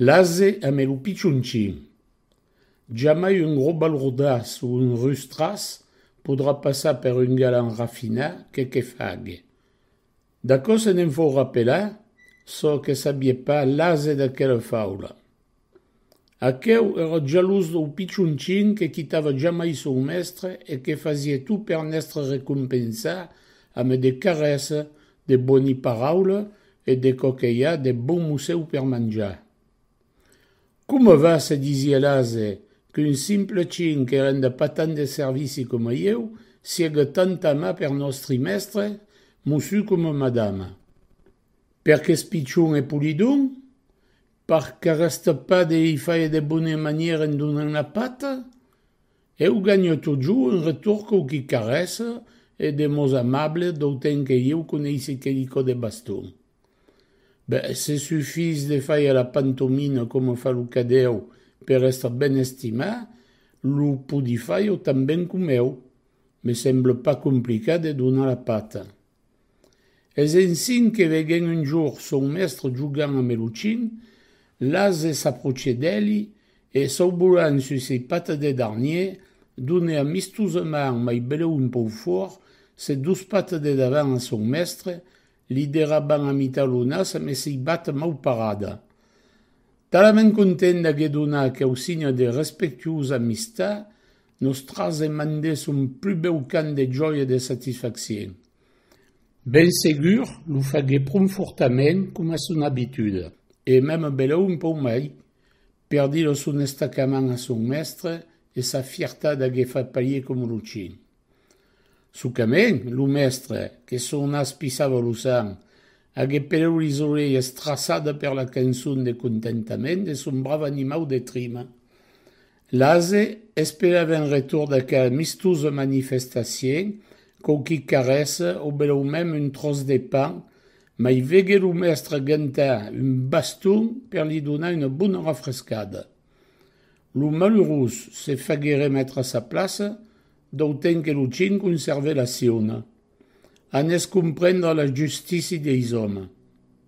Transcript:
L'ase ame lo pichonchin. Jamai un gros balrodaç o un rustraç podrà passar per un galan rafinat que que fague. D'aquò se ne'n fau rapelar çò que sabie pas l'ase d'aquela faula. Aqueu era jalós dau pichonchin que quitava jamai son mestre e que fasie tot per n'èstre recompensat ame de carèsses De boni paraula e de quò que i a de bon musèu per manjar. Coma va se disiá l'ase qu'un simple chin que renda pas tant de servici coma ieu siega tant amat per nòstri mèstre, mussu coma madama. Per qu'es pichon e polidon? Pas qu'arrèsta pas de i faire de bones manières en donant la pata? Eu ganho totjou un retorn cau qui carrèsse e de mots amables d'autant que ieu coneissi quelicò de baston. Be, se sufís de fàir la pantomina coma fa lo cadèu per èstre ben estimat, lo podi fàir tan ben com eu. Me semble pas complicat de donar la pata. Es ensin que veguèn un jorn son mèstre jogant a Meluchin, l'ase s'apròche d'eli e saubolant sus ei patas deth darnier, done amistosament mai belèu un pòu fòrt ses dus patas de davant a son mèstre, li derraban a mitar lo nas amès sei bata mau parada. Talament content d'aguer donat aqueu signe de respectuosa amistat, Nos trasèm en de son plus bèu cant de jòia e de satisfaccion. Ben segur, lo fagué pron fortament, coma son abituda, e mème belèu un pauc mai, per dir lo son estacament a son mèstre e sa fiertat d'agué fat parier coma lo chin. Sucament, lo mèstre, que son nas pisava lo sang, agué pelèu lis orelhas traçada per la cançon de contentament de son brave animau de trima. L'ASE espera ben retorn d'aquela mistosa manifestacion, coma qui carrés o belèu mem un tròç de pan, mai vegué lo mèstre gentar un baston per li donar una bona refrescada. Lo malurós se fagué remetre a sa plaça, d'autant que lo chin conservè la siona. Anés comprendre la justici deis òmes.